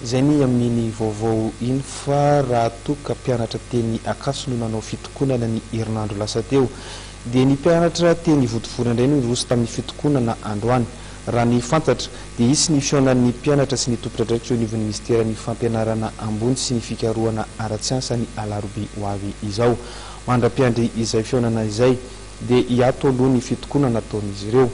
Izay ny amin'iny vaovao iny fa raha toa ka mpianatra teny Ankatso no nanao fitokonana ny herinandro lasa teo dia ny mpianatra teny Ivodivory indray no niroso tamin'ny fitokonana androany. Raha ny fantatra dia hisy ny fihaonan'ny mpianatra sy ny tompondradraikitra eo anivon'ny minisiteran'ny fampianarana ambony sy ny fikarohana ara-tsiansa ny alarobia ho avy izao. Mandra-piandry izay fihaonana izay dia hiato aloha ny fitokonana ataon'izy ireo.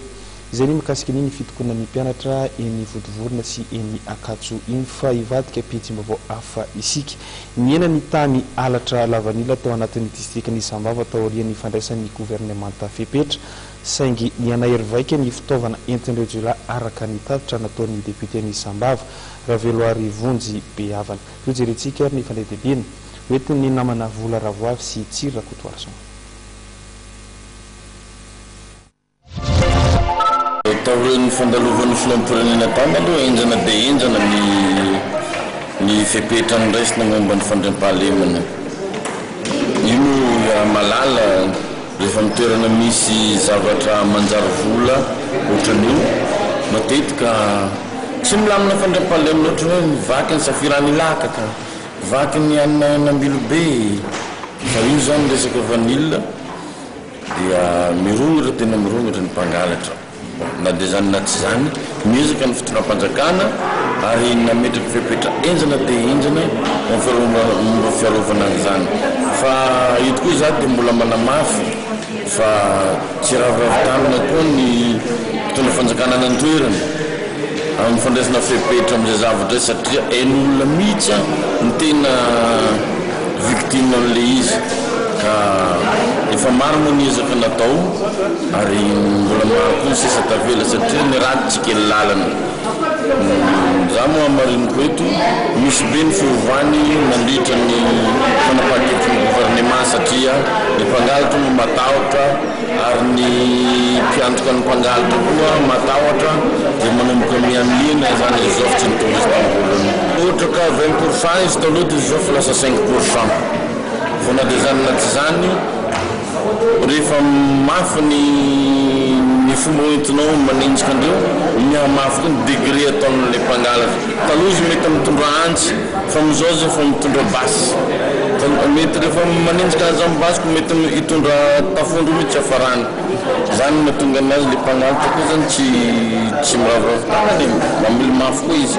Izay ny mikasika ny ny fitokonana ny mpianatra eny Vodivorona sy eny Ankatso iny fa hivadika am-pihetsem-baovao hafa isika. Nihena ny tany halatra lavanila tao anatin'ny distrikan'i Sambava taorian'ny fandraisan'ny governemanta fepetra saingy nihanahery vaika ny fitaovana entin'ireo jiolahy araka ny tatitra nataon'ny depioten'i Sambava, Raveloarivonjy Behavana. Toa jerentsika ary ny fandehadehabiana hoentin'ny namana Vola Ravoavy sy Tsiry Rakotoarison. Taorian'ny fandalovan'ny filoham-pirenena tany aloha henjana dia henjana ny ny fepetra noraisina momba ny fandriampahalemana. Io moa Ramalala rehefa amin'ny toerana misy zavatra manjary vola ohatran'io matetika tsy milamina fandriampahalemana ohatra hoe vaky an'i Safiranilakaka, vaky ny an'Ambilobe fa io izany resaka vanille. Dia mirongatra tena mirongatra ny mpangalatra, na dia izany na tsy izany, niezaka ny fitondram-panjakana ary nametraka fepetra henjana dia henjana ho an'ny momba fiarovana an'izany. Fa eto koa izaho dia mbola manamafy fa tsy hiraviravy tanana koa ny mpitondra fanjakana any an-toerana. Amin'ny fandraisana fepetra amin'izay zavatra izay satria hain'ny olona mihitsy aho ny tena victime an'ilay izy ka efa maro moa ny ezaka natao ary mbola maro koa ny sisa tavela satria ny ratsy tsy kely lalana. Izaho moa hamariniko eto, misy be ny fiovany nandritra ny fanapahan-kevitry ny governemanta satria ny mpangalatra moa matahotra, ary ny mpiantoka ny mpangalatra koa matahotra dia manomboka mihamihena izany izao fa tsy mitovy izy tamin'ny voalohany. Ohatra ka vingt pour cent izy taloha dia izao fa lasa cinq pour cent vao na dia izany na tsy izany rehefa mafy ny ny fomba hoentinao manenjika an'ireo mihamafy koa ny degré ataon'ilay mpangalatra. Taloha izy mety mitondra antsy Fa ny zao zao fa mitondra basy ka mety rehefa manenjika anazy amin'ny basy ko mety hitondra tafondro mihitsy hiafarany zany mahatonga anazy le mpangalatra ko zany tsy tsy miraviravy tanana e mamily mafy koa izy.